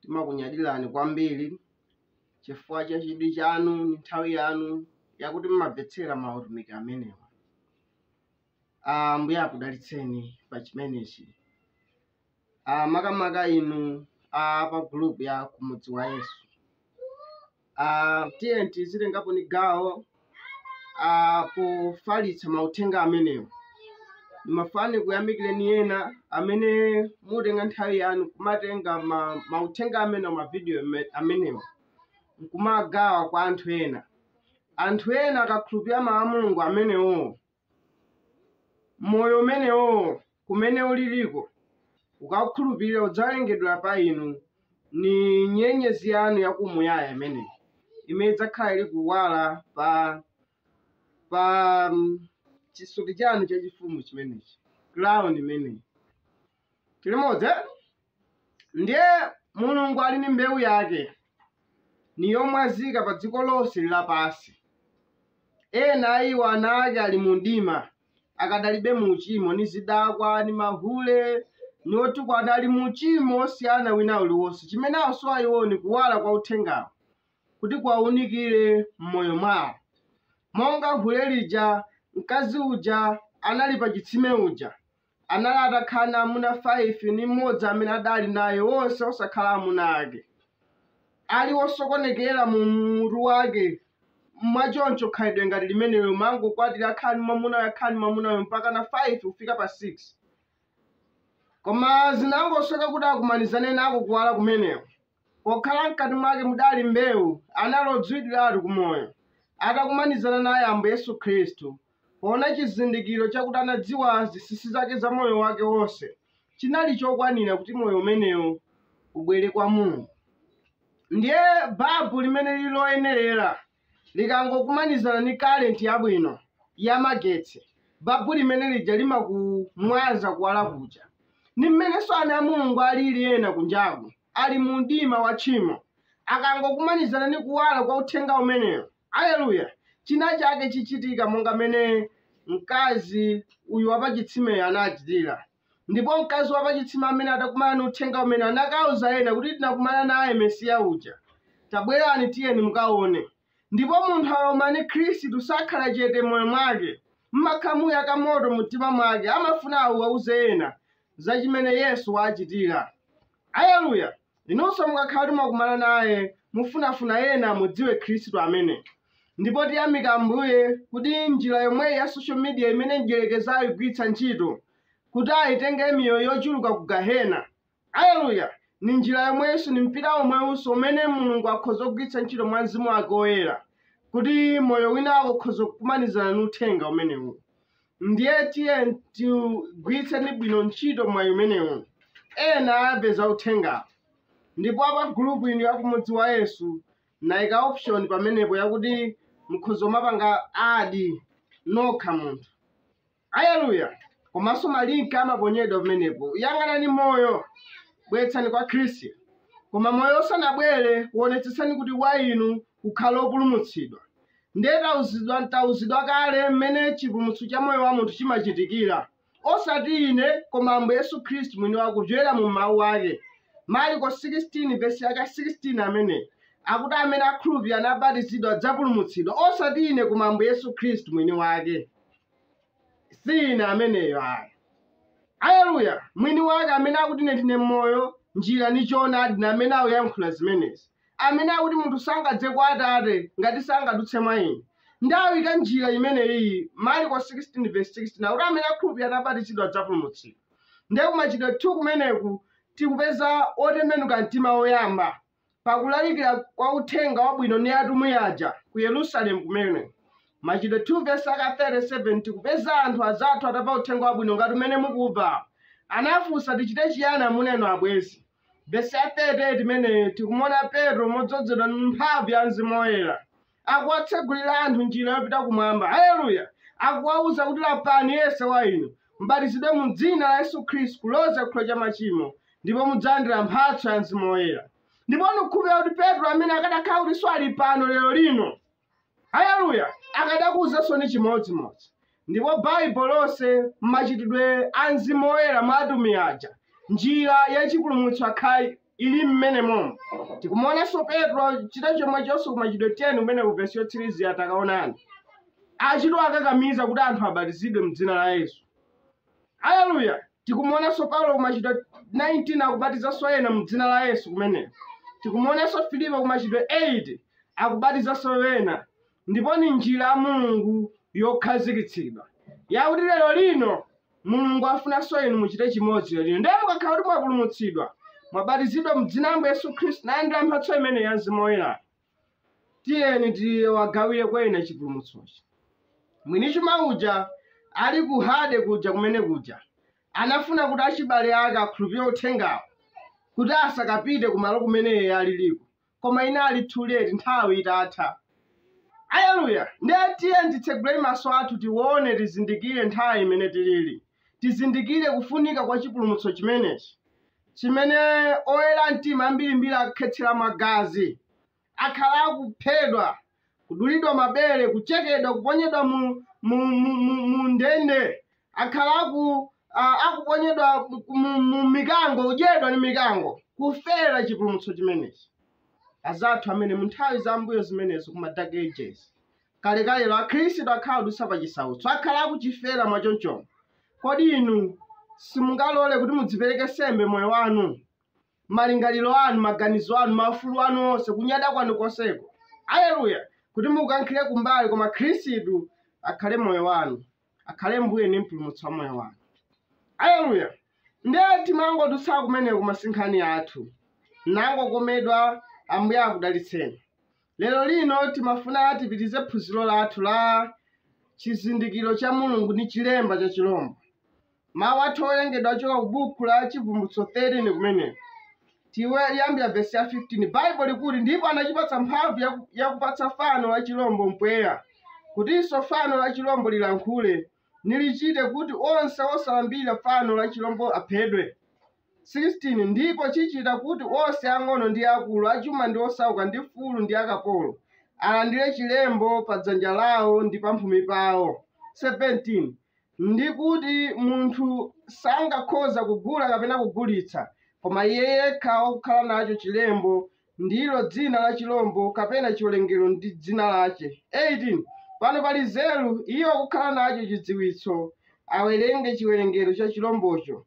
Timakunyadirani kwambiri chifukwa cha chidwi chanu ndi nthawi yanu yakuti mumamvetsera mautumiki amenewa. Ambuye akudalitseni pa chimenechi, makamaka inu a pa group ya Kumudzi wa Yesu. Ah, tiyeni tizitengapo ni gawo ah, pofalitsa mauthenga amenewo ndimafuna nikuyamikireni ena amene mutenga nthawi yanu kumatenga ma, mauthenga amenewa mavidiyo ame- amenewa nkumagawa kwa anthu ena anthu ena akakhulupirira mawu a mulungu amenewo Moyo umenewo kumene uliriko, ukakhulupirira udzawerengedwa pa inu ni nyenyezi yanu ya kumuyaya imeneyi imene idzakhala ili kuwala pa pa mm, chisoti chanu chachifumu chimenechi, crown imeneyi. tili modzi eh? ndiye mulungu ali ni mbewu yake ni yomwazikana pa dziko lonse lapansi ena a iwo ana ake ali mu mdima akadalibe mu uchimo ni zidakwa ni mahule ni otukwana ali mu uchimo osiyana wina uliwonse chimene asowa iwo ni kuwala kwa uthengawo kuti kuwaunikire m'moyo mwawo monga hule lija mkazi uja anali pa chitsime uja anali atakhala ndi amuna 5 ndi mmodzi amene adali naye, onse osakhala amuna ake. Ali wosokonekera mu mutu wake mwachoncho khalidwe ngati limenelo umangokwatira akhala ndi mwamunayo akhala ndi mwamunayo mpaka na 5 kufika pa 6 koma zinangosoweka kuti akumanizane nako kuwala kumeneko pokhala mkati mwake mudali mbewu anali odziwidwiratu ku moyo atakumanizana naye ambuye yesu khristu Poona chizindikiro chakuti anadziwa zinsinsi zake za moyo wake wonse, chinali chokwanira kuti moyo umenewo ubwere kwa Mulungu. Ndiye babu limene lili loyenerera likangokumanizana ndi current yabwino ya magetsi, babu limene lija limakumwaza kuwala kuja. Ndi mmenenso ana a Mulungu alili ena kunjaku, ali mu mdima wa tchimo. Akangokumanizana ndi kuwala kwa uthenga umenewo, Aleluya! Chinachake chichitika monga mmene mkazi uyu wapachitsimeyo anachitira. Ndipo mkazi wapachitsime amene atakumana ndi uthenga umene anakauza ena kuti tinakumana naye Mesiya uja. Tabwerani tiyeni mukaone. Ndipo munthu akakumana ndi Khristu sakhala chete m'moyo mwake. Mmakhala mukuyaka moto mu mtima mwake. Amafuna awauze ena za chimene Yesu wachitira. Aleluya! Inunso mukakhala kuti mwakumana naye, mufunafuna ena amudziwe Khristu amene. Ndipo tiyamika Ambuye kuti njira yomweyi ya social media imene mdyerekezi ayigwiritsa ntchito kuti atengere miyoyo yochuluka ku gahena. Aleluya! Ndi njira yomweyinso, ndi mpata womwewunso umene Mulungu akhoza kugwiritsa ntchito mwa mzimu wake woyera kuti moyo winawake ukhoza kukumanizana ndi uthenga umenewu. ndiye tiyeni tigwiritseni bwino ntchito mwayi umenewu ena apeza uthenga ndipo apa gulupu ino ya Kumudzi wa yesu naika option pamenepo yakuti mukhoza kumapanga add nokha munthu aleluya komanso malinki amaponyedwa pamenepo yang'anani moyo bweretsani kwa khristu koma moyo usanabwere onetsetsani kuti wa inu ukhale opulumutsidwa Ndiye tauzidwa tauzidwa kale mmene chipulumutso cha moyo wa munthu chimachitikira, osati ine, koma Ambuye Yesu Khristu mwini wake kudzera mu mawu ake. Marko 16 vesi yake 16 amene akuti amene akhulupirira nabatizidwa adzapulumutsidwa, osati ine, koma Ambuye Yesu Khristu mwini wake. Si ine ameneyo ayi. Aleluya! Mwini wake amene akuti ine ndine moyo, njira ndi choonadi, ndi amene akuyankhula zimenezi. amene akuti munthu sangadze kwa Atate ngati sangadutse mwa ine. Ndi waika njira imeneyiyi Marko 16 vesi 16 akuti amene akhulupirira nabatizidwa adzapulumutsidwa. Ndiye ku Machitidwe 2 kumeneku tikupeza otembenuka mtima oyamba pakulalikira kwa uthenga wabwino ni atumwi aja ku Yerusalemu kumene. Machitidwe 2 vesi yake 37 tikupeza anthu anzathu atamva uthenga wabwino ngati umene mukumva. Anafunsa tichite chiyani amuna inu abwenzi? Vesi ya 38 imene tikumuona Petro modzozedwa ndi mphamvu ya Mzimu Woyera akuwatsegulira anthu njira yopita kumwamba. Haleluya! Akuwauza kuti lapani yense wa inu, mubatizidwe mu dzina la Yesu Khristu kuloza chikhululukiro cha machimo, ndipo mudzalandira mphatso ya Mzimu Woyera. Ndipo ndikukhulupirira kuti Petro amene akadakhala kutinso ali pano lero lino, Haleluya! Akadakuwuzanso ni chimodzimodzi. Ndipo Baibulo lonse m'machitidwe a Mzimu Woyera mwa atumwi aja, njira ya chipulumutso ikadali ili m'mene momo. Tikumuwonanso Petro akuchita chomwechonso ku Machitidwe 10 kumene ku vesi yotsirizira takawonani. Achita kukakamiza kuti anthu abatizidwe m'dzina la Yesu. Aleluya! Tikumuonanso Paulo ku Machitidwe 19 akubatizanso ena mu dzina la Yesu kumeneko. Tikumuonanso Filipo ku Machitidwe 8 akubatizanso ena. Ndipo ni njira ya Mulungu yokhazikitsidwa yakuti lero lino Mulungu afunanso inu muchite chimodzi lero lino. Ndiye mukakhala kuti mwapulumutsidwa, mwabatizidwa mu dzina la Ambuye Yesu Khristu, mwalandira mphatso imeneyi ya Mzimu Woyera, tiyeni tiwagawire kwa ena chipulumutsochi mwini chuma uja ali ku hade kuja kumene kuja anafuna kuti achibale ake akhulupirire uthengawo kuti asakapite kumalo kumene iye aliliko koma inali too late nthawi itatha aleluya ndiye tiyeni titsegule maso athu tione tizindikire nthawi imene tilili tizindikire kufunika kwa chipulumutso chimenechi chimene oyera mtima ambirimbiri akhetsera magazi, akhala akuphedwa, kudulidwa mabere, kuchekedwa, kuponyedwa mu, mu, mu, mu, mu ndende, akhala aku, a, akuponyedwa mu, mu, mu mikango, kudyedwa ndi mikango, kufera chipulumutso chimenechi. Azathu amene mu nthawi za mbuyo zimenezo ku ma dark ages Kalekalelo, Akristu akhala akudutsa pa chisautso akhala akuchifera mwachonchomo. Kodi inu simungalole kuti mudzipereke nsembe moyo wanu, malingaliro anu, maganizo anu, maufulu anu onse, kunyada kwanu konseko, aleluya, kuti mukankhire kumbali koma Kristu akhale moyo wanu, akhale Mbuye ndi Mpulumutsi wa moyo wanu? Aleluya! Ndiye timangodutsa kumeneko masinkhani athu, nangokomedwa, Ambuye akudalitseni. Lero lino timafuna tipitize phunziro lathu la chizindikiro cha Mulungu ndi chilemba cha chilombo. Mawu athu owerengedwa achoka ku buku la Chivumbulutso 13 kumeneko. Tiyambira vesi ya 15. Baibulo likuti, ndipo anachipatsa mphamvu ya- ya kupatsa fano la chilombo mpweya, kutinso fano la chilombo lilankhule, nilichite kuti onse osalambira fano la chilombo aphedwe. 16 ndipo chichita kuti onse ang'ono ndi akulu, achuma ndi osauka, ndi mfulu ndi akapolo, alandire chilembo padzanja lao ndi pamphumi pao, 17 ndi kuti munthu sangakhoza kugula kapena kugulitsa, koma iye yekha wakukhala nacho chilembo, ndilo dzina la chilombo, kapena chiwerengero ndi dzina lache. 18 pano pali nzeru, iye wakukhala nacho chidziwitso awerenge chiwerengero cha chilombocho,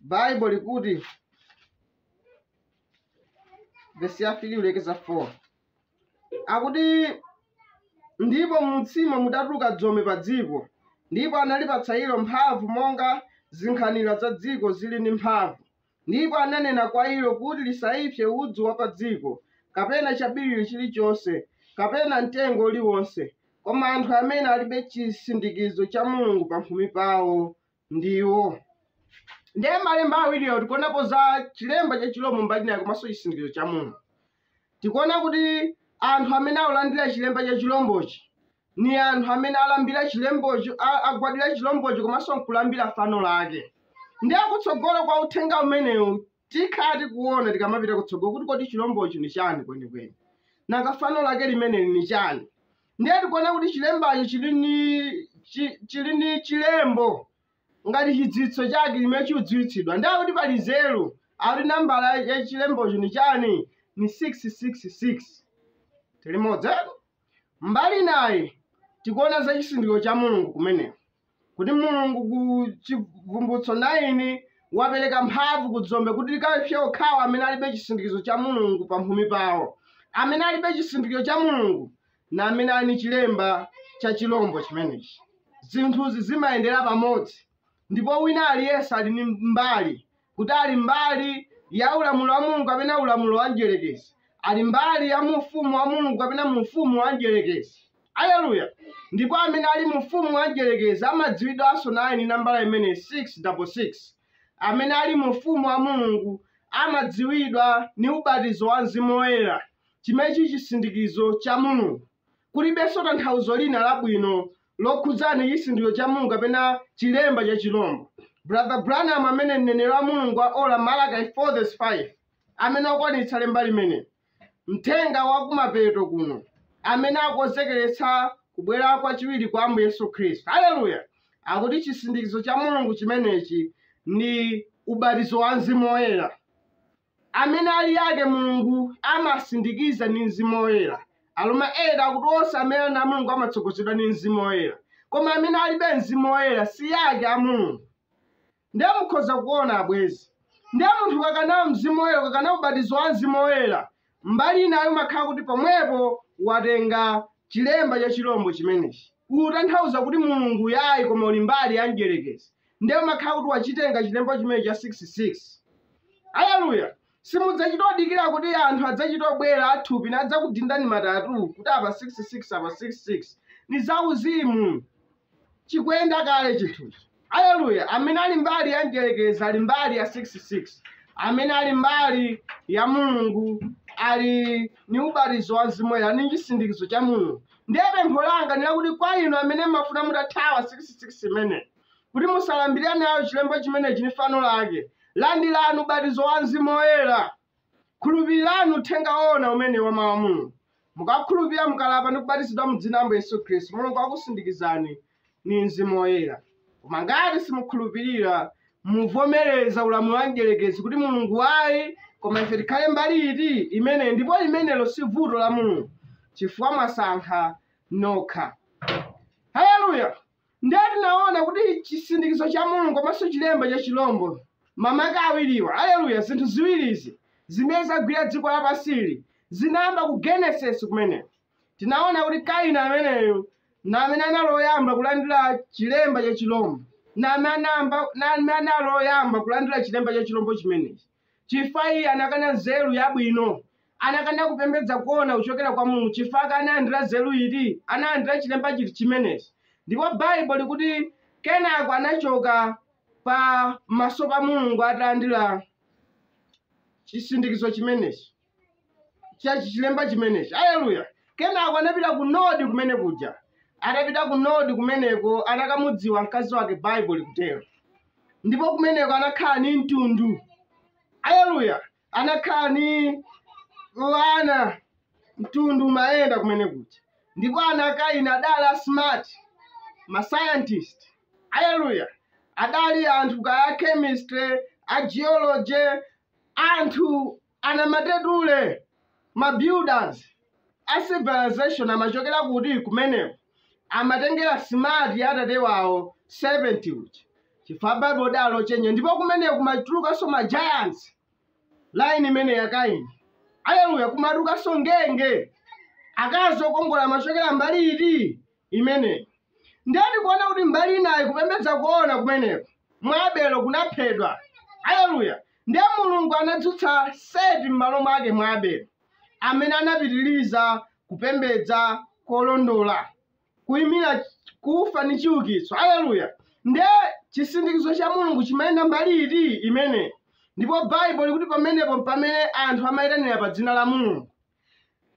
baibulo likuti vesi ya 3 kulekeza 4 akuti ndipo mutsimo mudatuluka dzombe pa dziko ndipo analipatsa ilo mphamvu monga zinkhanira za dziko zili ndi mphamvu ndipo ananena kwa ilo kuti lisaipse udzu wa pa dziko kapena chabiriwiri chilichonse kapena mtengo uliwonse koma anthu amene alibe chisindikizo cha mulungu pamphumi pawo ndiwo ndiye malemba awiriwo tikuonapo za chilemba cha chilombo mbali inayi komanso chisindikizo cha mulungu tikuona kuti anthu amene alandira chilemba cha chilombochi ni anthu amene alambira chilombocho a- agwadira chilombocho komanso nkulambira fano lake ndiye kutsogolo kwa uthenga umenewu tikhala tikuona tikamapita kutsogolo kuti kodi chilombocho ni chani kwenikweni nanga fano lake limeneli ni chani ndiye tikuona kuti chilembacho chili ni chi- chili ni chilembo ngati chidziwitso chake chimene chikudziwitsidwa ndiye akuti pali nzeru akuti nambala ya- ya chilembocho ni chani ni 666 tilimodzi mbali inayi tikuona za chisindikizo cha mulungu kumeneko kuti mulungu ku chivumbulutso 9 wapereka mphamvu ku dzombe kuti likaphe okhawo amene alibe chisindikizo cha mulungu pamphumi pawo amene alibe chisindikizo cha mulungu na amene ali ni chilemba cha chilombo chimenechi zinthuzi zimayendera pamodzi ndipo wina aliyense ali ni mbali kuti ali mbali ya ulamuliro wa mulungu kapena ulamuliro wa mdyerekezi ali mbali ya mu ufumu wa mulungu kapena mu ufumu wa mdyerekezi aleluya ndipo amene ali mu ufumu wa mdyerekezi amadziwidwanso naye ni nambala imene 666 amene ali mu ufumu wa mulungu amadziwidwa ni ubatizo wa mzimu woyera chimene chili chisindikizo cha mulungu kulibenso tanthauzo lina labwino lokhudzana ndi chisindikizo cha Mulungu kapena chilemba cha chilombo. Brother Branham amene mneneri wa Mulungu wa ola Malachi 4 verse 5 amene akukwaniritsa lemba limene mthenga wa kumapeto kuno amene akonzekeretsa kubwera kwachiwiri kwa Ambuye Yesu Khristu. Haleluya! Akuti chisindikizo cha Mulungu chimenechi ndi ubatizo wa Mzimu Woyera. amene ali ake Mulungu amasindikiza ndi Mzimu Woyera. Aroma 8 akuti onse amene ana a Mulungu amatsogozedwa ndi Mzimu Woyera. Koma amene alibe Mzimu Woyera si ake a Mulungu. Ndiye mukhoza kuona abwezi. Ndiye munthu ukakanawo Mzimu Woyera ukakana ubatizo wa Mzimu Woyera mbali inayo umakhala kuti pomwepo watenga chilemba cha chilombo chimenechi. Utanthauza kuti Mulungu yayi koma uli mbali ya mdyerekezi. ndiye umakhala kuti wachitenga chilembo chimenechi cha 66 aleluya simudzachita odikira kuti anthu adzachita obwera athupi naadzakudindani matatu kuti apa 66 apa 66 ni zauzimu chikuyenda kale chinthuchi aleluya amene ali mbali ya mdyerekezi ali mbali ya 66 amene ali mbali ya mulungu ali ni ubatizo wa mzimu woyera ni chisindikizo cha mulungu ndiye pempho langa nilakuti kwa inu amene mafuna mutathawa 66 imene kuti musalandire nawo chilembo chimenechi ni fano lake landirani ubatizo wa mzimu woyera khulupirirani uthenga woona umene wa mawu a mulungu mukakhulupirira mukalapa ndi kubatizidwa mu dzina la ambuye yesu khristu mulungu akusindikizani ni mzimu woyera koma ngati simukhulupirira muvomereza ulamuliro wa mdierekezi kuti mulungu wayi koma ife tikhale mbali iti imeneyi ndipo limenelo si vuto la mulungu chifukwa mwasankha nokha haleluya Ndiye tinaona kuti chisindikizo cha Mulungu komanso chilemba cha chilombo, mamaka awiriwa, aleluya, zinthu ziwirizi zimene zagwira dziko lapansili zinayamba ku Genesis kumene. Tinaona kuti Kaini ameneyo na amene anali oyamba kulandira chilemba cha chilombo, na amene anayamba- na amene anali oyamba kulandira chilemba cha chilombo chimenechi. Chifukwa iye anakana nzeru yabwino. Anakana kupembedza koona kuchokera kwa Mulungu chifukwa analandira nzeru iti? Analandira chilemba chiti chimenechi? Ndipo Bible likuti kenako anachoka pa maso pa Mulungu atalandira chisindikizo chimenechi. cha chilemba chimenechi aleluya kenako anapita ku nodi kumene kuja atapita ku nodi kumeneko anakamudziwa mkazi wake baibulo likutero ndipo kumeneko anakhala ni mtundu aleluya anakhala ni wana mtundu umayenda kumene kuja ndipo ana a kaini adali a smart ma scientist aleluya adali anthu kaya chemistry a geology anthu anamatetule ma builders a civilization amachokera kuti kumeneko amatengera smart ya atate wawo serpent uja chifukwa bible dalo chenye ndipo kumeneko kumatulukanso ma giants line imene ya kaini aleluya kumatulukanso ngenge akazi okongola amachokera mbali iti imeneyi. Ndiye tikuona kuti mbali inayi kupembedza koona kumeneko mwa Abelo kunaphedwa. Haleluya! Ndiye Mulungu anadzutsa Seti m'malo mwake mwa Abelo, amene anapitiriza kupembedza kolondola, kuimira kufa ni chiukitso. Haleluya! Ndiye chisindikizo cha Mulungu chimayenda mbali iti? Imeneyi. Ndipo Baibulo likuti pamenepo mpamene anthu amayitanira pa dzina la Mulungu.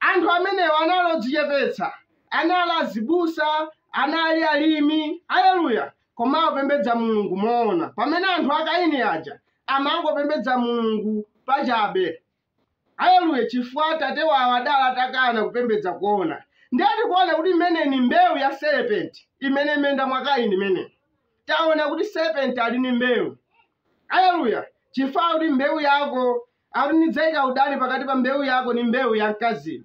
Anthu amenewa anali odzichepetsa, anali azibusa, anali alimi, aleluya, koma opembedza Mulungu moona. Pamene anthu a Kaini aja amangopembedza Mulungu pachabe, aleluya, chifukwa atate wawo adali atakana kupembedza koona. Ndiye tikuona kuti imeneyi ni mbewu ya serpenti imene imayenda mwa Kaini imeneyi. Taona kuti serpenti ali ni mbewu, aleluya, chifukwa kuti mbewu yako akuti ndidzaika udani pakati pa mbewu yako ni mbewu ya mkaziyo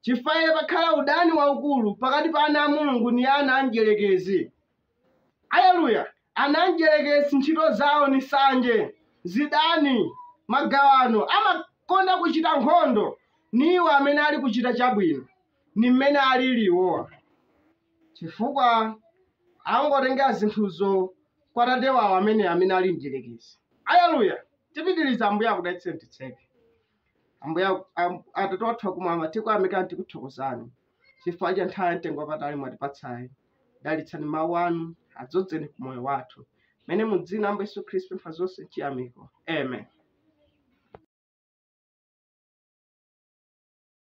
chifukwa iye pakhala udani waukulu pakati pa ana a mulungu ni ana a mdyerekezi aleluya ana a mdyerekezi ntchito zawo ni sanje zidani magawano amakonda kuchita nkhondo ni iwo amene ali kuchita chabwino ni mmene alili iwo chifukwa angotengera zinthuzo kwa tate wawo amene amene ali mdyerekezi aleluya tipitiliza ambuye akudalitse titseke ambuye aku- am- atate wathu akumwamba tikuyamikani tikuthokozani chifukwa cha nthawi ya mtengo wapatali mwatipatsayi dalitsani mawu anu adzozeni ku moyo wathu mmene mu dzina la ambuye yesu khristu mwa zonse nchiyamiko amen